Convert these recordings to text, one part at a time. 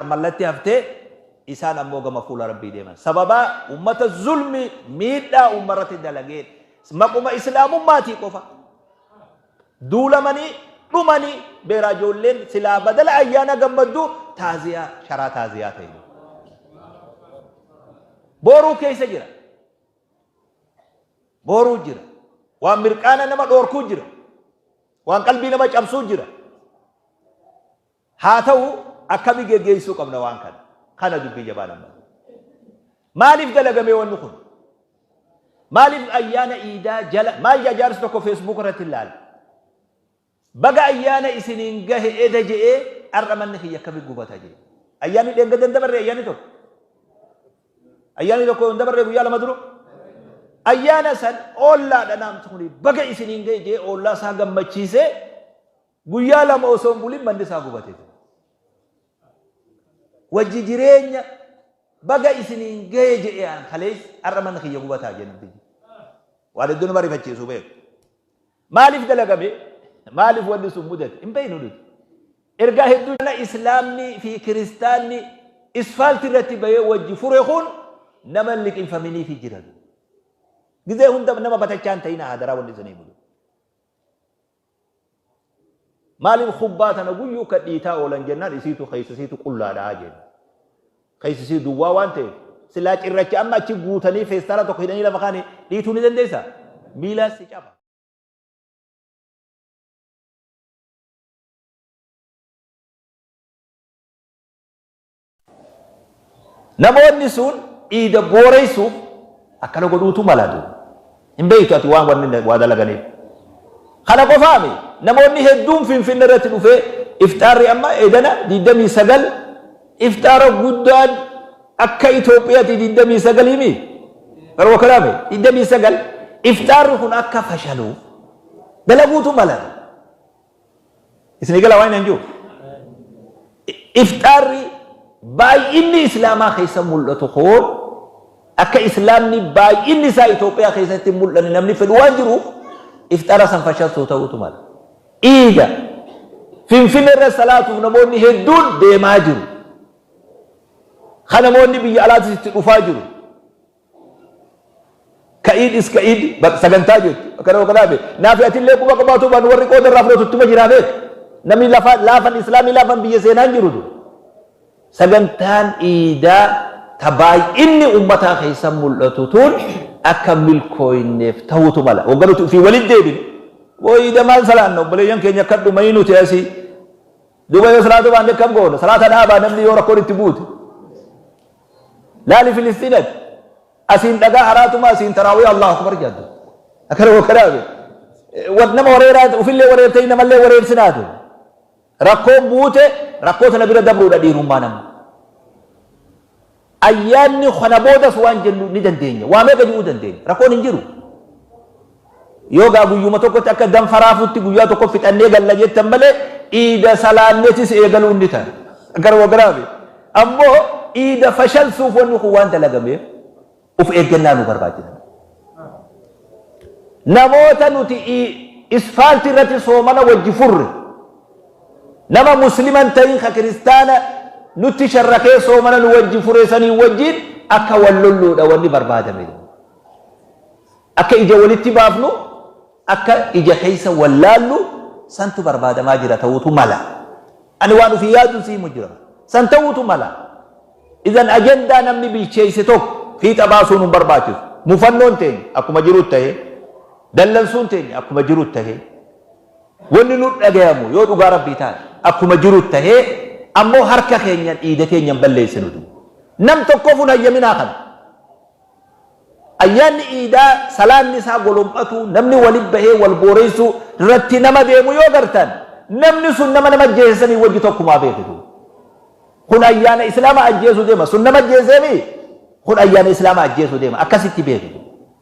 mallatti hafte, isaan ammoo gama fuula Rabbii deeman. Sababaa ummata zulmii, miidhaa ummarratti dalageen, maquma Islaamummaatii qofa duulamanii, dhumanii, beeraa ijoolleen silaa badala ayyaana gammaddu taaziyaa, sharaa taaziyaa ta'e jiru. Booruu keessa jira. Booruu jira. Waan mirqaana nama dhoorkuu jira. Waan qalbii nama cabsuu jira. Haa ta'u, akkami geggeessuu qabna waan kana? Kana dubbii jabaa lammata. Maaliif dalagamee wanni kun? Maaliif ayyaana iidaa jala maal jaa jaarsi tokko feesbuuk irratti ilaale? Baga ayyaana isiniin gahe eda je'ee har'a manni kiyya akkami gubata jee. Ayyaanni dheengadda hin dabarre ayyaanni tokko. Ayyaanni tokko hin dabarre guyyaa lama dura. Ayyaana san ollaadha naamti kuni baga isiniin gahe jee ollaa isaa gammachiisee Guyyaa lama osoo hin bulin manni isaa gubatee ture. Wajji jireenya baga isiniin ga'e jedhee an kalees har'a manni kiyya gubataa jedhe namtichi. Waan hedduu nama rifachiisu beeku. Maaliif dalagame? Maaliif wanni sun mudate? Hin beeknu nuti. Ergaa hedduu jala Islaamni fi Kiristaanni isfaaltii irratti bahee wajji fure kun nama hin liqinfaminiifi jiran. Gizee hunda nama batachaa hin ta'ina hadaraa wanni isinii mudate. Maaliif kubbaa tana guyyuu kan dhiitaa oolan jennaan isiitu keessa isiitu qullaadha jenna. Keessa isii duwwaa waan ta'eef silaa cirracha amma achi guutanii feestaala tokko hidhanii lafa kaanii dhiituu ni dandeessaa? Miilaan si caba. Namoonni sun dhiiga booreessuuf akkana godhuutu mala duuba. Hin beektu ati waan wanni waa dalaganiif. Kana qofaami namoonni hedduun Finfinne irratti dhufee ifxaarri amma edana 29 ifxaara guddaan akka Itoophiyaati 29 mi? Garuu akkanaami 29 ifxaarri kun akka fashaluuf dalaguutu mala. Isin eegalaa waan hin jiru. Ifxaarri baay'inni Islaamaa keessa mul'atu kun akka Islaamni baay'inni isaa Itoophiyaa keessatti hin mul'anne namni fedhu waan jiruuf ifxaara san fashalsuu ta'uutu mala. Iida Finfinnee irra salaatuuf namoonni hedduun deemaa jiru. Kan namoonni biyya alaatis itti dhufaa jiru. Ka'ii dhis ka'ii di baq sagantaa jechu akana wakana be naafi atillee quba qabaatuu baan warri qooda irraa fudhatu ittuma jiraa beek namni lafa laafan islaamii laafan biyya seenaa hin jiru du sagantaan iidaa ta baay'inni ummataa keessa mul'atu tuun akka milkooyneef ta'uutu mala wagga nuti ufii walit deebine woo iida maal salaanna obboleeyyan keenya akka dhumayii nuti asii Duuba yoo salaatuu baanne akkam goona? Salaata dhaabaa namni yoo rakkoon itti buute. Laali Filisxiinati. Asiin dhagaa haraatuma asiin taraawiya Allahu Akbar jedhu. Akkana yoo kanaame. Wat nama wareeraa ofillee wareertee namallee wareersinaate. Rakkoon buute rakkoo sana bira dabruudha dhiirummaa nama. Ayyaanni kana boodas waan jennu ni dandeenya. Waa meeqa je'uu dandeenya. Rakkoon hin jiru. Yoo gaa guyyuma tokkotti akka ganfa raafuutti guyyaa tokko fixannee galla jettan malee iida salaannetis eegaluun ni ta'a. Garuma biraa miti. Ammoo iida fashalsuuf wanni kun waan dalagameef uf eeggannaa nu barbaachisa. Namoota nuti isfaaltii irratti soomana wajji furre. Nama muslima hin tahin ka kiristaana nutti sharrakee soomana nu wajji fure saniin wajjiin akka wal lolluudha wanni barbaadame. Akka ija walitti baafnu, akka ija keessa wal laallu santu barbaadamaa jira ta'uutu mala. Ani waan ofii yaaduun si himu jira. San ta'uutu mala. Izan ajandaa namni bilcheesse tokko fiixa baasuun hin barbaachisu. Mufannoon teenya akkuma jirutti tahee, dallansuun teenya akkuma jirutti tahee, Wanni nutt dhagayamu yoo dhugaa Rabbii taate akkuma jirutt tahee ammoo harka keenyan dhiiga keenyan balleessinu duu. Nam tokkofu hin hayyaminaa kana. Ayyaanni iidaa salaanni isaa golom'atuu namni walitt bahee wal booreessuu rratti nama deemu yoo gartan namni sun nama nama ajjeese sanii wajji tokkumaa beeki duu. Kun ayyaana islaama ajjeesu deema sun nama ajjeesee mii kun ayyaana islaama ajjeesu deema akkasitti beeki duu.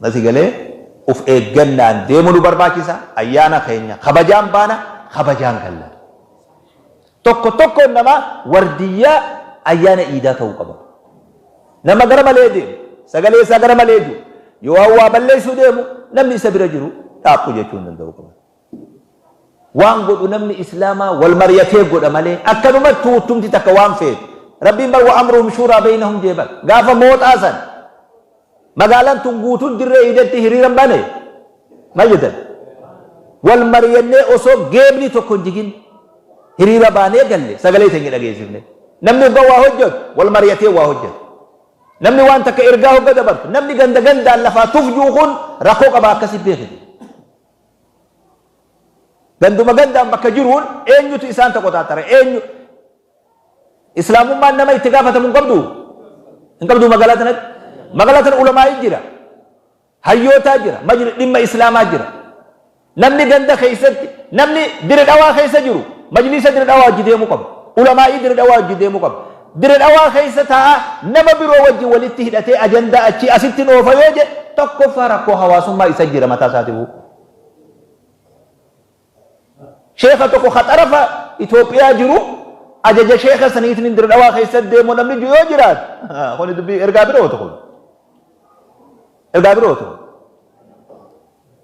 Nati galee uf eeggannaan deemu nu barbaachisa ayyaana keenya kabajaan baana kabajaan galla. Tokko tokkoon namaa wardiyyaa ayyaana iidaa ta'uu qaba. Nama gara malee deemu sagalee isaa gara malee jiru yoo waa balleessuu deemu namni isa bira jiru dhaabbu jechuu hin danda'u qaba. Waan godhu namni islaamaa wal maryatee godha malee akkanumatti tuuttumti takka waan feetu Rabbiin bar wa amruhum shuuraa beynahum jee bar gaafa mooxaa san magaalan tun guutun dirree iidetti hiriiran bane mal jetan wal maryannee osoo geebni tokko hin jigin hiriira baanee galle sagalee teenya dhageessifne namni ogga waa hojjatu wal maryatee waa hojjata namni waan takka ergaa hogga dabartu namni ganda gandaan lafaa tuf juu kun rakkoo qaba akkasi beekite Ganduma gandaan bakka jiruun eenyutu isaan takotaatara? Eenyu? Islaamummaan nama itti gaafatamu hin qabduu? Hin qabduu magaalaa tanatti? Magaalaa tana ulamaa'ii jira. Hayyootaa jira. Majli dhimma Islaamaa jira. Namni ganda keessatti, namni Dire Dhawaa keessa jiru majliisa Dire Dhawaa wajji deemuu qaba. Ulamaa'ii Dire Dhawaa wajji deemuu qaba. Dire Dhawaa keessa taa'aa nama biroo wajjin walitti hidhatee ajandaa achii asittin oofa yoo jedhe tokkoffaa rakkoo hawaasummaa isa jira mataa isaatifuu. Sheekha tokko ka xarafa Itoophiyaa jiru ajaja sheekha saniitiin Dire Dhawaa keessa deemu namni jiru yoo jiraate kuni dubbii ergaa birooti kun. Ergaa birooti kun.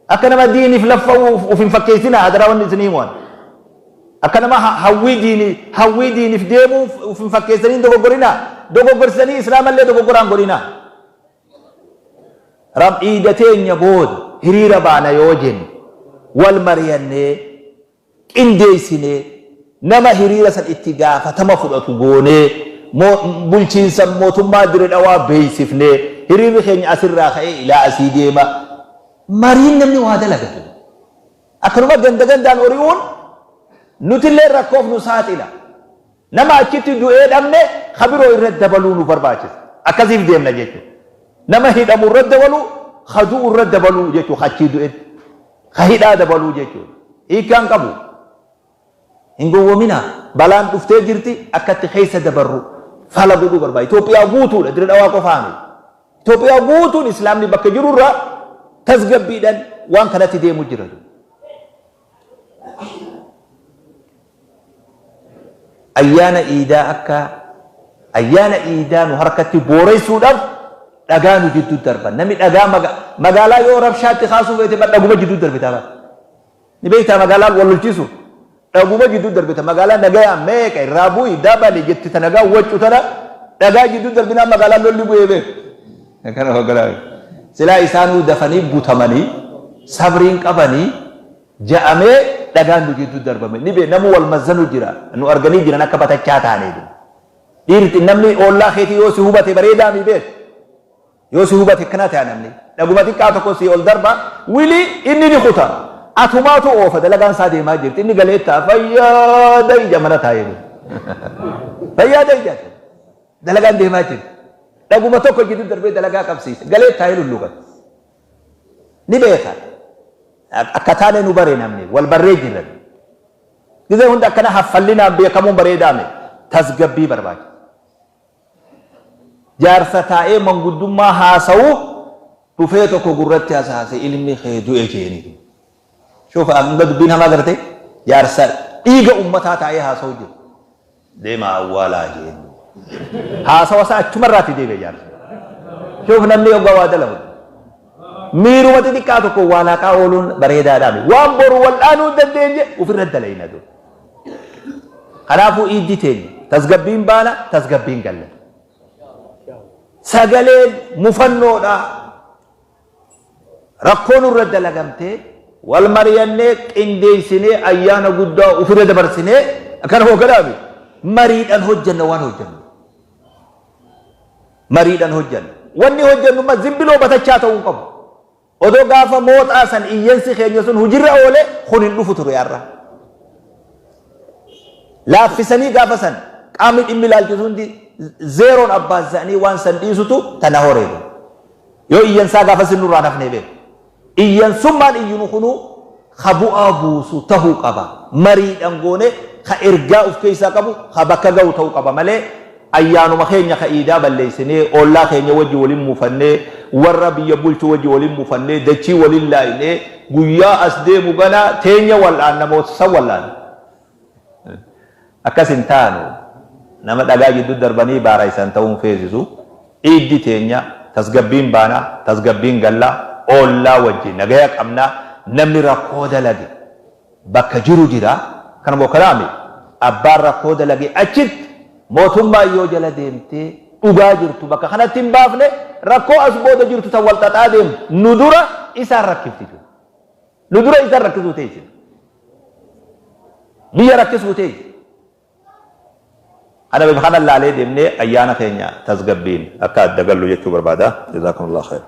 Akka nama diiniif laffa'uu uf hin fakkeessinaa hadaraa wanni isin hiimu ani. Akka nama hawwii diini hawwii diiniif deemuu uf hin fakkeessanii hin dogoggorinaa. Dogoggorsitanii islaama illee dogoggora hin godhinaa. Ram iida teenya booda hiriira baana yoo jenne wal mariyannee. qindeessinee, nama hiriira san itti gaafatama fudhatu goonee, bulchiinsa mootummaa Dire Dhawaa beeksifnee, hiriirri keenya asirraa ka'ee ilaa asii deema, mariin namni waa dalagatu. Akkanuma ganda gandaan ori'uun nutillee rakkoof nu saaxila. Nama achitti du'ee dhabne ka biroo irratti dabaluu nu barbaachisa. Akkasiif deemna jechu. Nama hidhamu irratti dabaluu, ka du'u irratti dabaluu jechu ka achii du'etti. Ka hidhaa dabaluu jechu. Hiikkaa hin qabu. Hin gowwominaa. Balaan dhuftee jirti akka itti keessa dabarru fala godhuu barbaachisa. Itoophiyaa guutuudha. Dire Dhawaa qofaa miti. Itoophiyaa guutuun Islaamni bakka jiru irraa tasgabbiidhaan waan kanatti deemu jira. Ayyaana Iidaa akka Ayyaana Iidaa nu harkatti booreessuudhaaf dhagaa nu jidduu darban. Namni dhagaa maga, magaalaa yoo rabshaatti kaasuu feete bar dhaguma jidduu darbitaa bar. Ni beektaa magaalaa wal lolchiisu. Dhaguma jidduu darbita magaalaa nagayaa meeqa irraa bu'i dabali jetti ta nagaa waccu tana dhagaa jidduu darbinaa magaalaa lolli bu'ee beeku. Kana hogganaa. Silaa isaanuu dafanii butamanii sabriin qabanii ja'amee dhagaan nu jidduu darbame ni bee namu wal mazzanu jira nu arganii jiran akka batachaa taanee jira dhiirti namni oollaa keetii yoo si hubate bareedaa mi beek yoo si hubate akkana ta'a namni dhaguma xiqqaa tokko si ol darba wili inni ni kuta atumaatu oofa dalagaan isaa deemaa jirti inni galee ta'a fayyaada ija mana taa'ee jiru fayyaada ija dalagaan deemaa jirti dhaguma tokko jidduu darbee dalagaa qabsiise galee taa'ee lulluuqate ni beeka akka taane nu bare namni wal barree jirra gizee hunda akkana haffallinaan beekamuun bareedaa miti tasgabbii barbaachisa jaarsa taa'ee manguddummaa haasa'u dhufee tokko gurratti hasaase ilmi kee du'e jeeni shufa hanga dubbiin hamaa garte jaarsa dhiiga ummataa taa'ee haasa'u jiru Deemaa awwaalaa jeen. Haasawa isaa achuma irraatii deebi'e jaarsi. Kanaaf namni hoggaa waa dalagu miiruma xixiqqaa tokkoon waa laaqaa ooluun bareedaadhaa miti. Waan boru wal'aanuu hin dandeenye ofirra dalayna dur. Kanaafuu iiddi teenya tasgabbiin baana tasgabbiin galla. Sagaleen mufannoodhaa. Rakkoo nurra dalagamte wal mariyannee qindeessinee ayyaana guddaa ufirra dabarsinee akkana hoogganaa miti. Mariidhan hojjanna waan hojjannu. Mariidhan hojjanna. Wanni hojjannu ma zimbiloo batachaa ta'uu hin qabu. Odoo gaafa mooxaa san iyyansi keenya sun hujirra oole kun hin dhufu ture har'a. Laaffisanii gaafa san qaamni dhimmi ilaalchisu hundi zeeroon abbaan isaanii waan san dhiisutu tana horeedu. Yoo iyyan isaa gaafas hin nurraan hafnee beeka. Iyyansummaan iyyinu kunuu ka bu'aa buusu tahuu qaba. Mariidhan goone ka ergaa uf keessaa qabu ka bakka gahu tahuu qaba malee ayyaanuma keenya ka iidaa balleessinee, ollaa keenya wajji wal hin mufannee, warra biyya bulchu wajji wal hin mufannee, dachii wal hin laaynee, guyyaa as deemu ganaa teenya wal'aanna moo san wal'aanna? Akkas hin taanu. Nama dhagaa jiddu darbanii baaraysan ta'uu hin feesisu. Iiddi teenya tasgabbiin baana, tasgabbiin galla, oollaa wajji nagaya qabna, namni rakkoo dalage bakka jiru jira. Kana moo kanaa miti. Abbaan rakkoo dalage achitti mootummaan yoo jala deemtee dhugaa jirtu bakka kanatti hin baafne rakkoo as booda jirtu tan wal xaxaa deemtu nu dura isaan rakkifti tun. Nu dura isaan rakkisuu ta'e jira. Biyya rakkisuu ta'e jira. Kana bifa kana laalee deemnee ayyaana keenya tasgabbiin akka adda gallu jechuu barbaada. Jazaakumullah khair.